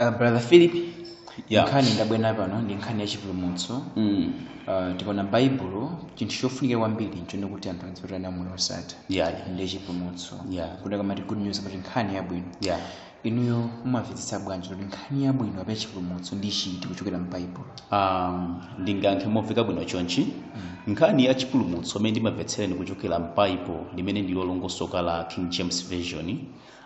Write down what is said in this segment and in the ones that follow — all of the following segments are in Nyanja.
Uh, brother philip Yeah. nkhani ndabwera pano ndi nkhani ya chipulumutso Mm. uh, tikaona baibulo chinthu chofunika kwambiri nchone kuti anthu adzipereka nawo moyo osatha Yeah. ndi chipulumutso Yeah. kuti akamati good news kuti nkhani yabwino Yeah. inuyo mumamvetsetsa bwanji kuti nkhani yabwino kapena chipulumutso ndi chiti kuchokera mu baibulo um, ndingayankhe momveka bwino chonchi nkhani ya chipulumutso mmene ndimamvetsera ine kuchokera m'baibulo limene ndilolongosoka la king james version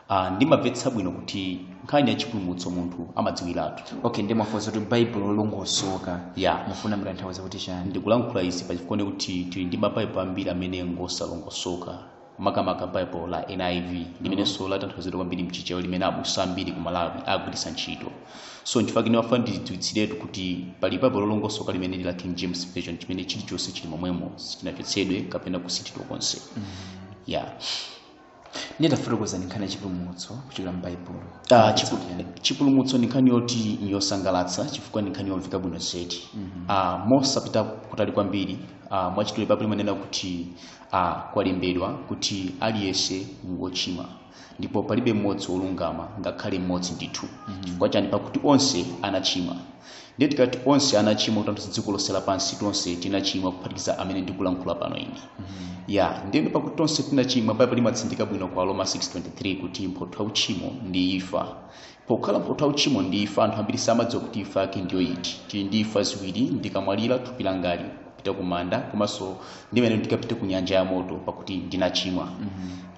Ah, ndimamvetsa bwino kuti nkhani ya chipulumutso munthu amadziwiratu okay ndimafunsa kuti baibulo lolongosoka ya mufuna mutanthauza kuti chani ndikulankhula izi pachifukwa kuti tili ndi mabaibulo ambiri amene ngosalongosoka makamaka baibulo la niv limenenso latanthauzidwa kwambiri mchichewa limene abusa ambiri ku malawi akugwiritsa ntchito so nchifukwa chake ndimafuna ndidziwitsiretu kuti pali baibulo lolongosoka limene ndi la king james version chimene chilichonse chili momwemo sichinachotsedwe kapena kusinthidwa konse ya ndiye tafotokozani nkhani ya chipulumutso kuchokera mu baibulo Ah, chipu- chipulumutso ndi nkhani yoti ndi yosangalatsa chifukwa ndi nkhani yomveka bwino zedi Ah, mosapita kutali kwambiri ah, mwachidule baibulo limanena kuti ah, kwalembedwa kuti aliyense ndi wochimwa ndipo palibe mmodzi wolungama ngakhale mmodzi ndithu chifukwa chani pakuti onse anachimwa Ndiye tikati onse anachimwa kutanthauza dziko lonse lapansi tonse tinachimwa kuphatikiza amene ndikulankhula pano ine. Ya, ndiye pakuti tonse tinachimwa Baibulo limatsindika bwino kwa Aroma 6:23 kuti mphotho ya uchimo ndi imfa. Pokhala mphotho ya uchimo ndi imfa anthu ambiri samadziwa kuti imfa yake ndiyo iti. Tili ndi imfa ziwiri, ndikamwalira thupi langali kupita kumanda komanso ndimene tikapite ku nyanja ya moto pakuti ndinachimwa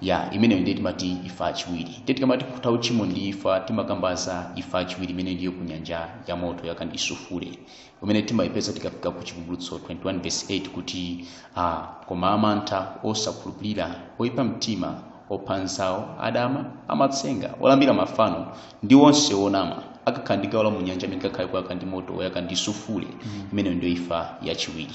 ya imeneyo ndiye timati ifa yachiwiri ndiye tikamati mphotho ya uchimo ndi ifa timakamba za ifa yachiwiri imene ndiyo ku nyanja ya moto woyaka ndi sufule imene timayipeza tikafika ku chivumbulutso 21 verse 8 kuti ah, koma amantha osakhulupirira oyipa mtima opha anzawo adama amatsenga olambira mafano ndi onse onama akakhala ndi gawo lawo mu nyanja imene ikakhale ikuyaka ndi moto woyaka ndi sufule imeneyo ndiyo ifa yachiwiri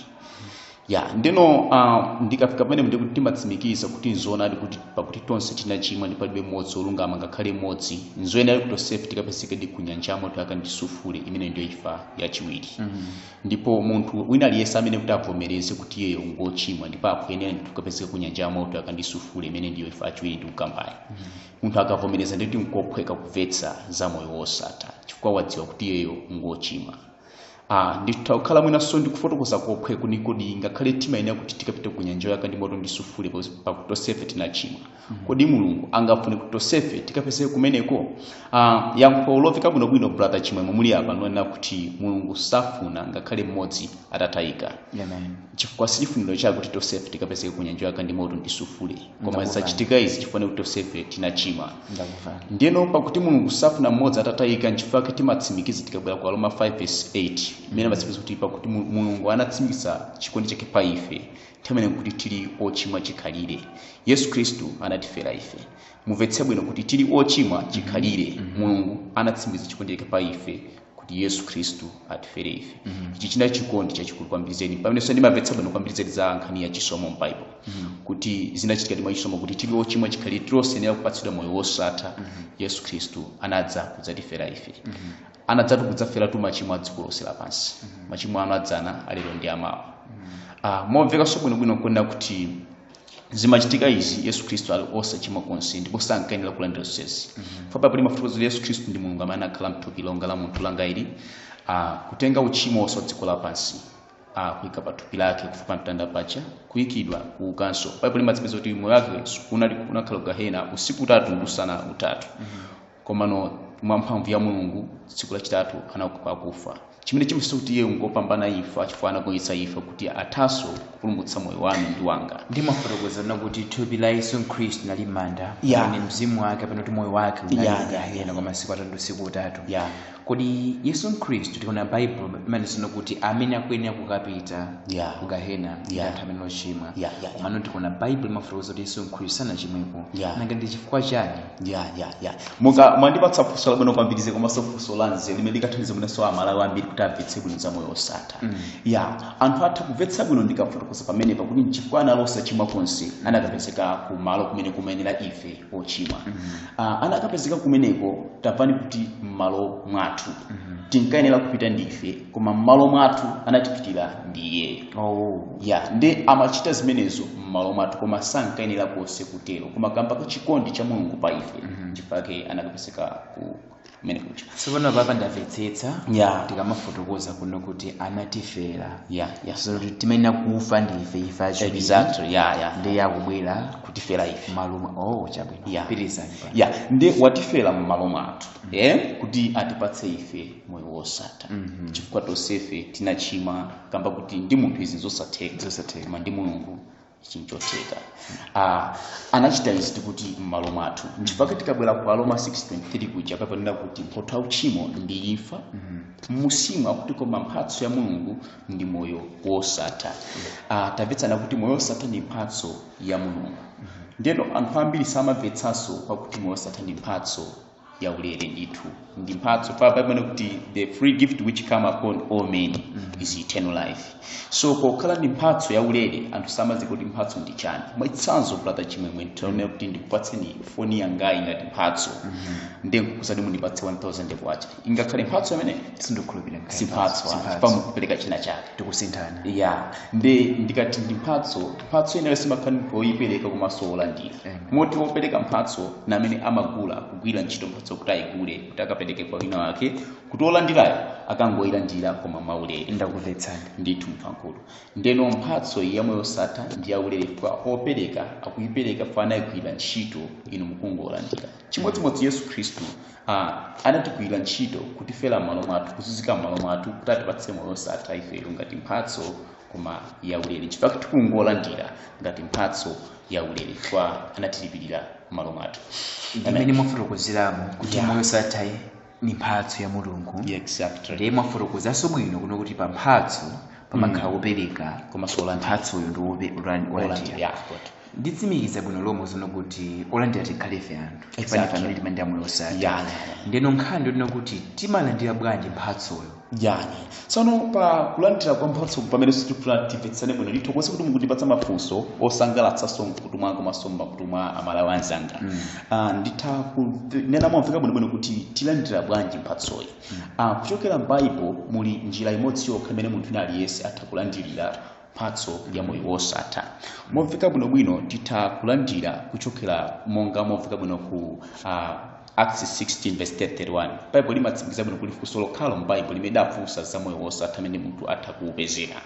ya ndeno uh, ndikafika pamene ndi kuti timatsimikiza kuti nzoonadi kuti pakuti tonse tinachimwa ndi palibe mmodzi olungama ngakhale mmodzi nzoyenera kuti tonsefe tikapezeke ndi kunyanja ya moto woyaka ndi sufule imene ndiyo ifa yachiwiri ndipo munthu wina aliyense ayenera kuti avomereze kuti iyeyo ngochimwa ndipo akuyenera ndi kukapezeka kunyanja ya moto woyaka ndi sufule imene ndiyo ifa yachiwiri ndikukambayo munthu akavomereza nditi nkophweka kuvetsa za moyo wosatha chifukwa wadziwa kuti iyeyo ngochimwa ah, nditha kukhala mwinanso ndikufotokoza kophwekako kodi ngakhale timayenera kuti tikapite ku nyanja yoyaka ndi moto ndisufule pakuti tonsefe tinachimwa kodi mulungu angafune kuti tonsefe tikapezeke kumeneko ah, yankho lomveka bwinobwino brother chimwemwe muli apa nonena kuti mulungu safuna ngakhale mmodzi atayike amen chifukwa sichifuniro chake kuti tonsefe tikapezeke ku nyanja yoyaka ndi moto ndisufule koma zachitika izi chifukwa kuti tonsefe tinachimwa ndiyeno pakuti mulungu safuna mmodzi atatayika nchifukwa chake timatsimikiza tikabwera ku aroma 5 verse 8 imene amatsimikiza kuti pakuti Mu- mulungu anatsimikiza chikondi chake pa ife nthawi imene kuti tili ochimwa chikhalire yesu khristu anatifera ife mumvetse bwino kuti tili ochimwa chikhalire mulungu anatsimikiza chikondi chake pa ife kuti yesu khristu atifere ife ichi chinali chikondi chachikulu kwambiri zedi pamenenso ndimamvetsa bwino kwambiri zedi za nkhani ya chisomo m'baibulo kuti zinachitikadi mwachisomo kuti tili ochimwa chikhalire tili osayenera kupatsidwa moyo wosatha yesu khristu anadza kudzatifera ife anadzatu kudzaferatu machimo a dziko lonse lapansi machimo anu adzana alero ndi amawa Ah, momvekanso bwinobwino nkuona kuti zimachitika izi yesu khristu ali osachimwa konse ndipo sankayenera kulandira zonsezi chifukwa baibulo limafotokozera yesu khristu ndi mulungu amene anakhala mthupi longa la munthu langali ah, kutenga uchimo wonse wa dziko lapansi ah, kuyika pa thupi lake kufa pa mtanda paja kuyikidwa kuukanso baibulo limatsimikiza kuti moyo wake unakhala kugahena usiku utatu ndi usana utatu komano mwa mphamvu ya mulungu tsiku lachitatu anauka kwa akufa chimene chimasonyeza kuti iye ngopambana imfa chifukwa anagonjetsa imfa kuti athanso kupulumutsa moyo wanu ndi wanga ndimafotokozana kuti thupi la yesu khristu linali m'manda Yeah. ndi mzimu wake pena kuti moyo wake Yeah, yeah, yeah. unali ku gahena kwa masiku atatu ndi usiku utatu yeah. kodi yesu khristu tikaona baibulo limanena kuti amene akuyenera kukapita Yeah. ku gahena ndi Yeah. anthu amene ali ochimwa Yeah, yeah, yeah. komano tikaona baibulo limafotokoza kuti yesu khristu sanachimwepo Yeah. nanga ndi chifukwa chani ya ya ya muka mwandipatsa funso labwino kwambiri zedi komanso funso la nzeru limene likathandiza mwinanso amalawi ambiri kuti amvetse bwino za moyo osatha Mm. ya anthu atha kumvetsa bwino ndikafotokoza pamenepa kuti nchifukwa anali osachimwa konse anakapezeka kumalo kumene kumayenera ife ochimwa Ah, anakapezeka kumeneko tamvani kuti m'malo mwathu tinkayenera kupita ndife koma m'malo mwathu anatipitira ndi iyeyo oh. ya ndiye amachita zimenezo m'malo mwathu koma sankayenera konse kutero koma kamba ka chikondi cha mulungu pa ife chifukwa chake anakapezeka ku kumene kuja so pano papa ndamvetsetsa ya tikamafotokoza kuno kuti anatifera ya ya so kuti timayenera kufa ndi ife ife ochimwa exactly ya ya ndiye akubwera kutifera ife m'malo mwathu oh chabwino ya pitirizani pa ya ndiye watifera m'malo mwathu eh kuti atipatse ife moyo wosatha chifukwa tonsefe tinachimwa kamba kuti ndi munthu izi nzosatheka Zosatheka. koma ndi mulungu ichi nchotheka ah, anachita izi tikuti m'malo mwathu chifukwa tikabwera ku aroma 623 kuja pakunena kuti mphotho ya uchimo ndi imfa mmusimo akuti koma mphatso ya mulungu ndi moyo wosatha ah, tamvetsana kuti moyo wosatha ndi mphatso ya mulungu ndeno anthu ambiri samamvetsanso pakuti moyo wosatha ndi mphatso yaulere ndithu ndi mphatso pa pamene kuti the free gift which come upon all men is eternal life so pokhala ndi mphatso yaulere anthu samadziwa kuti mphatso ndi chani mwachitsanzo brother chimwemwe tinene kuti ndikupatseni foni yangayi ngati mphatso ndiye nkukuuzani kuti mundipatse 1000 kwacha ingakhale mphatso imeneyo sindikhulupirira si mphatso ah, pa mukupereka china chake tikusinthana ya ndi ndikati ndi mphatso mphatso imeneyo simakhala ndi woyipereka komanso wolandira moti wopereka mphatso ndi amene amagula kugwira ntchito mphatso kuti ayigule kuti akapereke kwa wina wake kuti wolandirayo akangoyilandira koma mwaulere ndakumvetsani ndithu mkulu ndeno mphatso iyi ya moyo wosatha ndi yaulere kwa opereka akuyipereka pa anayigwira ntchito inu mukungolandira chimodzimodzi yesu khristu ah, anatigwira ntchito kutifera m'malo mwathu kuzunzika m'malo mwathu kuti atipatse moyo wosatha ifeyo ngati mphatso koma yaulere chifukwa tikungolandira ngati mphatso yaulere chifukwa anatilipirira m'malo mwathu ndimene mwafotokozeramo kuti Yeah. moyo wosathawu ni mphatso ya mulungu Yeah, exactly ndiye mwafotokozanso bwino kunena kuti pa mphatso pamakhala wopereka komanso olandira mphatsoyo ndi wope- wolandira. olandira Yeah, good. nditsimikize bwino lomwe tsono kuti olandira tikhale ife anthu chifukwa ni Exactly. pamene timalandira moyo osatha Yeah. ndeno nkhani yonena kuti timalandira bwanji mphatsoyo yani tsono pa kulandira kwa mphatso pamene tifuna timvetsane bwino ndithokoze kuti mukundipatsa mafunso osangalatsanso mkhutu mwanga komanso mmakutu mwa amalawi anzanga Ah, nditha kunena momveka bwinobwino kuti tilandira bwanji mphatsoyi Ah, kuchokera m'baibo muli njira imodzi yokha imene munthu wina aliyense atha kulandirira mphatso ya moyo wosatha momveka bwinobwino titha kulandira kuchokera monga momveka bwino ku uh, acts 16 verse 31 baibulo limatsimikiza bwino kuti funso lokhalo m'baibulo limene lidafunsa za moyo wosatha amene munthu atha kuupezera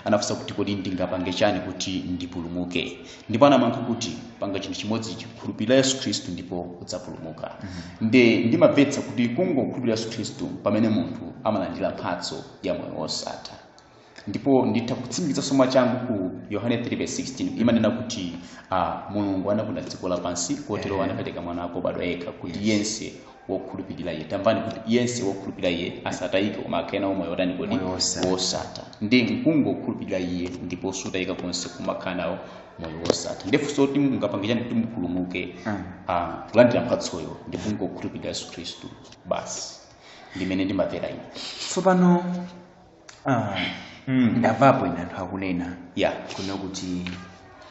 anafunsa kuti kodi ndingapange chani kuti ndipulumuke ndipo anamuyankha kuti panga chinthu chimodzi khulupirira yesu khristu ndipo udzapulumuka nde ndimamvetsa kuti kungokhulupirira yesu khristu pamene munthu amalandira mphatso ya moyo wosatha ndipo nditha kutsimikizanso mwachangu ku yohane 3:16 imanena kuti uh, mulungu anakonda dziko lapansi kotero anapereka mwana wake obadwa yekha kuti yense wokhulupirira iye tamvani kuti yense wokhulupirira iye asatayike koma akhale nawo moyo otani kodi Moyo wosatha. wosatha ndi kungokhulupirira iye ndipo sutayika konse koma ukhala nawo moyo wosatha ndifunso kuti mungapange chani kuti mupulumuke Mm. ah, kulandira mphatsoyo ndi kungokhulupirira yesu khristu basi ndimene ndimamvera ine tsopano Ah, mm, ndamvapo ine anthu akunena ya kunena kuti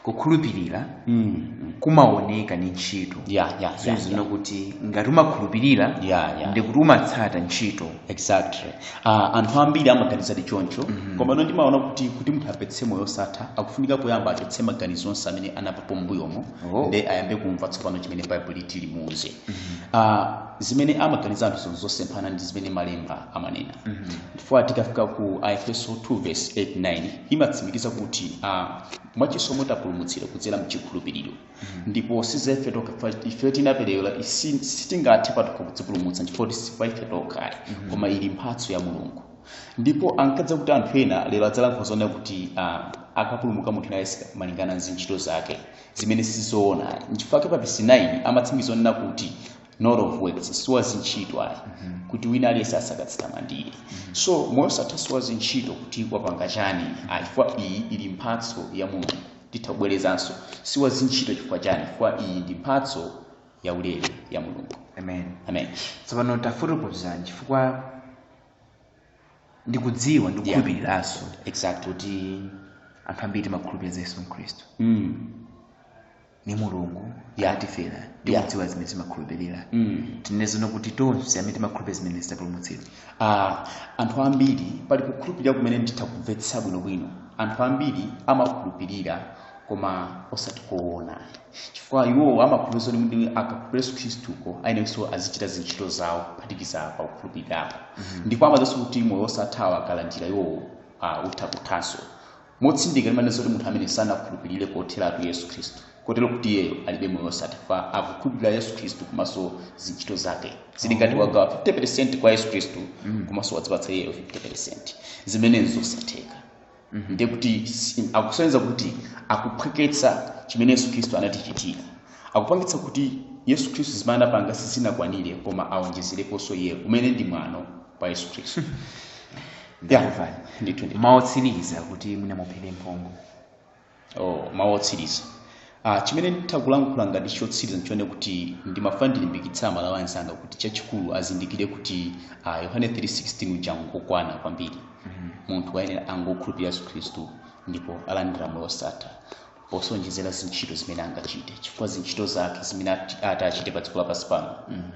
kukhulupirira mm, kumaoneka ndi ntchito ya ya ya, zozina ya. kuti ngati umakhulupirira Ya, ya. ndiye kuti umatsata ntchito exactly uh, anthu ambiri amaganizadi choncho mm-hmm. koma no ndimaona kuti kuti munthu apeze moyo osatha akufunika poyamba achotse maganizo onse amene anamvapo mbuyomo Oh. nde ayambe kumva tsopano chimene baibulo liti limuuze mm-hmm. uh, zimene amaganiza anthu zonse zosemphana ndi zimene malemba amanena chifukwa tikafika ku aefeso 2 verse 8 9 imatsimikiza kuti ah, mwachisomo tapulumutsidwa kudzera mchikhulupiriro ndipo si za ife tokha ife tinaperewera si- sitingathe patokha kudzipulumutsa chifukwa si za ife tokha koma ili mphatso ya mulungu ndipo ankadziwa kuti anthu ena lero adzalankhula zonena kuti ah, akapulumuka munthu nayenso malingana ndi ntchito zake zimene sizoona nchifukwa chake pa verse 9 amatsimikiza onena kuti not of works si wa zintchito ayi kuti wina aliyense asakadzitamandire so moyo wosatha si wa zintchito kuti wapanga chani ayi chifukwa iyi ili mphatso ya mulungu titha kubwerezanso si wa zintchito chifukwa chani chifukwa iyi ndi mphatso ya ulere ya mulungu amen amen tsopano tafotokozani chifukwa ndikudziwa ndikukhulupiriranso exactly kuti anthu ambiri timakhulupirira za yesu khristu mm. ndi mulungu Yeah. anatifera Yeah. ndikudziwa zimene timakhulupirira mm. tinenenso kuti tonse amene timakhulupirira zimenezi tapulumutsidwa Ah, anthu ambiri pali kukhulupirira kumene nditha kumvetsa bwinobwino anthu ambiri amakhulupirira koma osati koona chifukwa iwo amakhulupirira zoti kuti akakhulupirira yesu khristuyo ayeneranso azichita zintchito zawo kuphatikiza pa kukhulupirirapo ndipo amadziwanso kuti moyo osathawo akalandira iwowo ah, utha kuthanso motsindika ndimanena zoti munthu amene sanakhulupirire kotheratu yesu khristu kotero kuti iyeyo alibe moyo wosatha chifukwa akukhulupirira yesu khristu komanso zintchito zake zili ngati wagawa 50 kwa yesu khristu komanso wadzipatsa iyeyo 50 zimene nzosatheka ndiye kuti si- akusonyeza kuti akuphweketsa chimene yesu khristu anatichitira akupangitsa kuti yesu khristu zimene anapanga sizinakwanire koma awonjezereponso iyeyo umene ndi mwano kwa yesu khristu ndikuvani ndithu ndithu mawu otsiriza kuti mwina muphere mphongo oh, mawu otsiriza ah, chimene nditha kulankhula ngati chotsiriza ndichonena kuti ndimafuna ndilimbikitse amalawi anzanga kuti chachikulu azindikire kuti ah, yohane 316 uja ngokwana kwambiri munthu ayenera kungokhulupirira yesu khristu ndipo alandira moyo wosatha posaonjezera zintchito zimene angachite chifukwa zintchito zake zimene ati ati achite pa dziko lapansi pano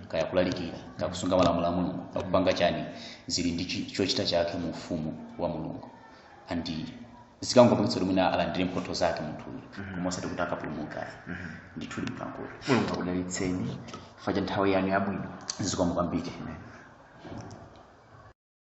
kaya kulalikira kaya kusunga malamulo a mulungu akupanga chani zili ndi chi- chochita chake mu ufumu wa mulungu and zikangopangitsa kuti mwina alandire mphotho zake munthuyu koma osati kuti akapulumuke ayi ndithu ndimkankulo mulungu akudalitseni chifukwa cha nthawi yanu yabwino zikomo kwambiri